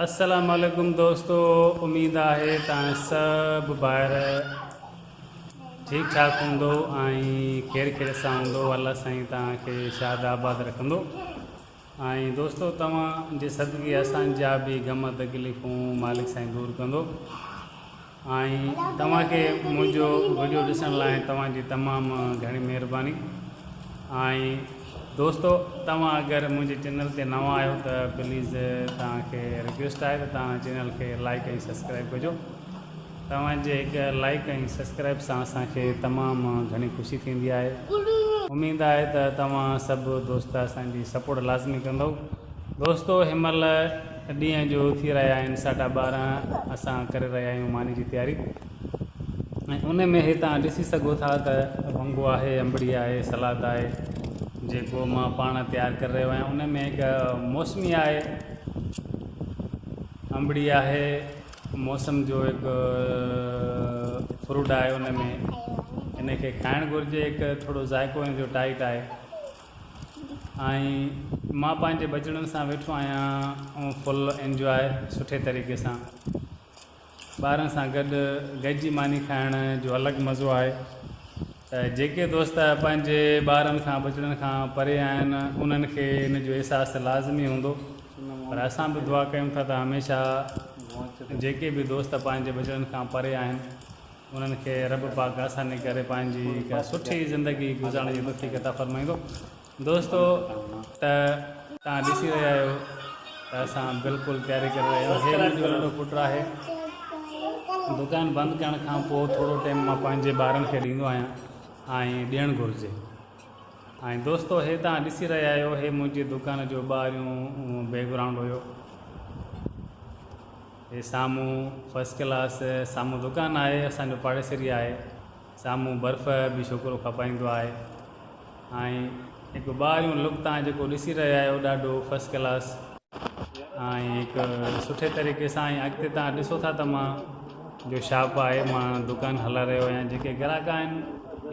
السلام عليڪم دوستو اميد آهي تان سڀ ڀائر ٺيڪ ٺاڪ هوندو ۽ خير خير سان هوندو الله سائين تان کي شاد آباد رکندو ۽ دوستو توهان جي صدقي اسان جا به غم تڪليفون مالڪ سائين دور ڪندو آئين توهان کي منهنجو وڊيو ڏسڻ لاء توهان جي تمام گهڻي مهرباني آئين دوستو توهان اگر منهنجي چينل تي نوان آهيو ته پليز توهان کي رڪويسٽ آهي ته توهان چينل کي لائيڪ ۽ سبسڪرائيب ڪجو توهان جي هڪ لائيڪ ۽ سبسڪرائيب سان اسان کي تمام گهڻي خوشي ٿيندي آهي اميد آهي ته توهان سڀ دوست اسان جي سپورٽ لازمي ڪندؤ دوستو هن مهل ڏينهن جو ٿي رهيا آهن ساڍا ٻارهن اسان ڪري رهيا آهيون ماني جي تياري ۽ ان ۾ هي تان ڏسي سگهو ٿا ته ونگو آهي انبڙي آهي سلاد آهي جيڪو مان پاڻ تيار ڪري رهيو آهيان ان ۾ هڪ موسمي آهي انبڙي آهي موسم جو هڪ فروٽ آهي ان ۾ ان کي کائڻ گهرجي هڪ ٿورو ذائقو ان جو ٽائٽ آهي ۽ مان پنهنجي ٻچڙن سان ويٺو آهيان ۽ فل انجواء سٺي طريقي سان ٻارن سان گڏ گڏجي ماني کائڻ جو الڳ مزو آهي ته جيڪي دوست پنهنجي ٻارن کان ٻچڙن کان پري آهن انهن کي ان جو احساس لازمي هوندو پر اسان به دعا ڪيون ٿا ته هميشه جيڪي به دوست پنهنجي ٻچڙن کان پري آهن انهن کي رب پاڪ آساني ڪري پنهنجي هڪ سٺي زندگي گذارڻ جي توفيق عطا فرمائيندو دوستو ته تان ڏسي رهيا آهيو ته اسان بلڪل تياري ڪري رهيا آهيون هي منهنجو ننڍو پٽ آهي دڪان بند ڪرڻ کان پوء ٿورو ٽيم مان پنهنجي ٻارن کي ڏيندو آهيان ۽ ڏيڻ گهرجي ۽ دوستو هي تان ڏسي رهيا آهيو هي منهنجي دڪان جو ٻاهريون بيڪ گرائونڊ هيو هي سامهون فرسٽ ڪلاس سامهون دڪان آهي اسان جو پاڙيسري آهي سامهون برف به ڇوڪرو کپائيندو آهي ۽ هڪ ٻاهريون لڪ تان جيڪو ڏسي رهيا آهيو ڏاڍو فرسٽ ڪلاس ۽ هڪ سٺي طريقي سان ۽ اڳتي تان ڏسو ٿا ته مان جو شاپ آهي مان دڪان هلائي رهيو آهيان جيڪي گراڪ آهن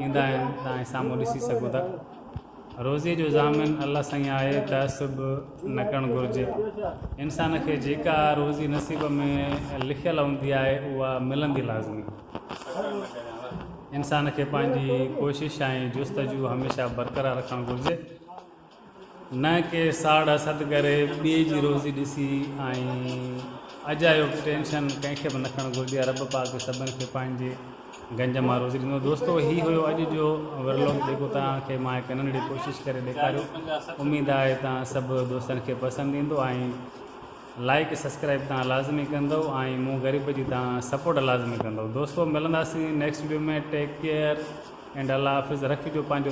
ايندا آهن تان سامهون ڏسي سگهو ٿا روزي جو ضامن الله سائين آهي تعصب نه ڪرڻ گهرجي انسان کي جيڪا روزي نصيب ۾ لکيل هوندي آهي اها ملندي لازمي انسان کي پنهنجي ڪوشش ۽ جستجو هميشه برقرار رکڻ گهرجي نه ڪي ساڙ حسد ڪري ٻئي جي روزي ڏسي ۽ اجايو ٽينشن ڪنهن کي به نه کڻ گهرجي رب پاڪ سڀن کي پنهنجي گنج مان روزي ڏنو. دوستو هي هيو اڄ جو ورلوگ جيڪو توهان کي مان هڪ ننڍڙي ڪوشش ڪري ڏيکاريو اميد آهي توهان سڀ دوستن کي پسند ايندو ۽ لائيڪ سبسڪرائيب توهان لازمي ڪندؤ ۽ مون غريب جي توهان سپورٽ لازمي ڪندؤ دوستو ملنداسين next video ۾ take care and الله حافظ رکجو پنهنجو